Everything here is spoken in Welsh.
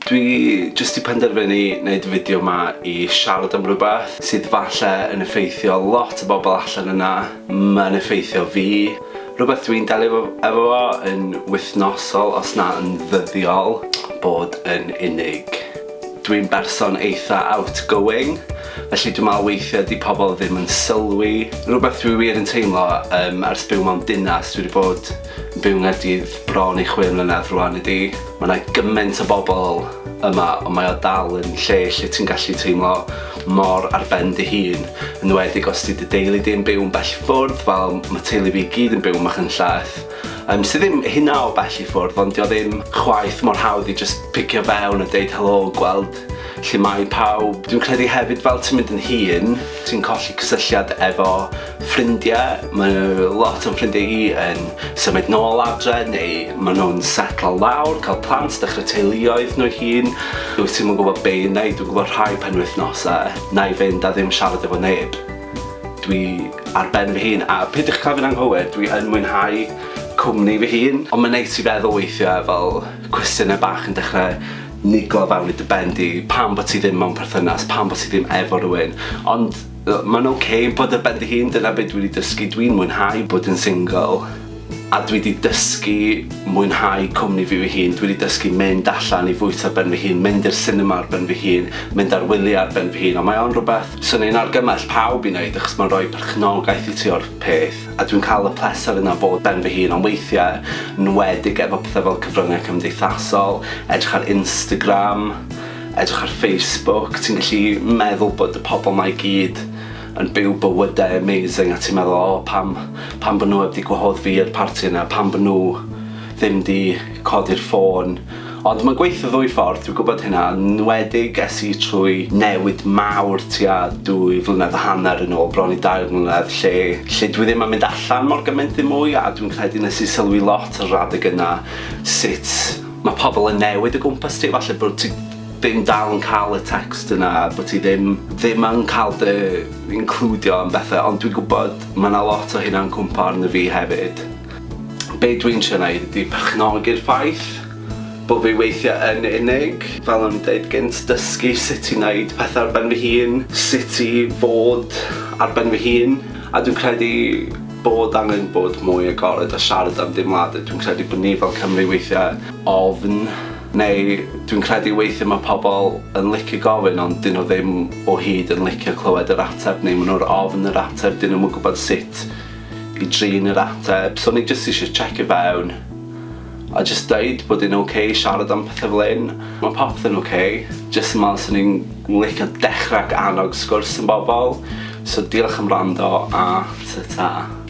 Dwi jyst 'di penderfynu neud y fideo 'ma i siarad am rwbeth sydd falle yn effeithio lot o bobl allan yna, ma'n effeithio fi, rwbeth dwi'n delio efo fo yn wythnosol os na yn ddyddiol, bod yn unig. Dwi'n berson eitha outgoing, felly dwi'n meddwl weithia 'di pobl ddim yn sylwi. Rwbeth dwi wir yn teimlo yym ers byw mewn dinas dwi 'di bod Byw yng Nghaerdydd bron i chwe mlynedd rwan i di. Mae yna gymaint o bobl yma ond mae o dal yn lle lle ti'n gallu teimlo mor ar ben dy hun, yn enwedig os 'di dy deulu di yn byw yn bell ffwrdd fel ma' teulu fi i gyd yn byw yn Machynlleth yym sy ddim hynna o bell i ffwrdd ond 'di o ddim chwaith mor hawdd i jyst picio fewn a deud helo gweld lle mae pawb. Dwi'n credu hefyd fel ti'n mynd yn hŷn ti'n colli cysylltiad efo Ffrindiau, mae lot o'n ffrindiau i yn symud nôl adre neu maen nhw'n setlo lawr, cael plant, dechrau teuluoedd nhw hun. Wyt ti'n gwybod be i wneud, dwi'n gwybod rhai penwythnosau, na i fynd a ddim siarad efo neb. Dwi ar ben fy hun a peidiwch cael fi'n anghywir, dwi yn mwynhau cwmni fy hun. Ond mae'n neis i feddwl weithiau fel cwestiynau bach yn dechrau nigo fewn i dy ben di, pam bod ti ddim mewn perthynas, pam bod ti ddim efo rhywun? Ond Mae'n ok bod ar ben dy hun, dyna be dwi 'di dysgu, dwi'n mwynhau bod yn single a dwi 'di dysgu mwynhau cwmni fi fy hun, dwi 'di dysgu mynd allan i fwyta ar ben fy hun, mynd i'r sinema ar ben fy hun, mynd ar wyliau ar ben fy hun, ond mae o'n rhywbeth 'swn i'n argymell pawb i wneud achos mae'n rhoi perchnogaeth i ti o'r peth a dwi'n cael y pleser yna o fod ben fy hun, ond weithiau, nwedig efo pethau fel cyfryngau cymdeithasol, edrych ar Instagram, Edrych ar Facebook, ti'n gallu meddwl bod y pobl 'ma i gyd yn byw bywydau amazing a ti'n meddwl o pam, pam bod nhw heb 'di gwahodd fi i'r parti yna, pam bod nhw ddim 'di codi'r ffôn. Ond mae'n gweithio ddwy ffordd, dwi'n gwybod hynna, yn enwedig es i trwy newid mawr tua dwy flynedd a hanner yn ôl, bron i dair mlynedd, lle lle dwi ddim yn mynd allan mor gymaint ddim mwy a dwi'n credu nes i sylwi lot ar yr adeg yna sut Mae pobl yn newid o gwmpas ti, falle bod ti ddim dal yn cael y text yna, bod ti ddim, ddim yn cael dy includio yn bethau, ond dwi'n gwybod mae yna lot o hynna'n cwmpa arno fi hefyd. Be dwi'n trio wneud ydy perchnogi'r ffaith bod fi weithiau yn unig, fel o'n i'n dweud gynt, dysgu sut i wneud pethau ar ben fy hun, sut i fod ar ben fy hun, a dwi'n credu Bod angen bod mwy agored a siarad am deimladau. Dwi'n credu bod ni fel Cymry weithiau ofn neu dwi'n credu weithiau mae pobl yn licio gofyn ond dyn nhw ddim o hyd yn licio clywed yr ateb neu maen nhw'r ofn yr ateb dyn nhw'n gwybod sut i drin yr ateb so ni jyst eisiau checio fewn a jyst deud bod e'n ok siarad am pethe fel hyn. Mae popeth yn ok, jyst yn meddwl 'swn i'n licio dechrau ac annog sgwrs yn bobol. So diolch am wrando a ta ta.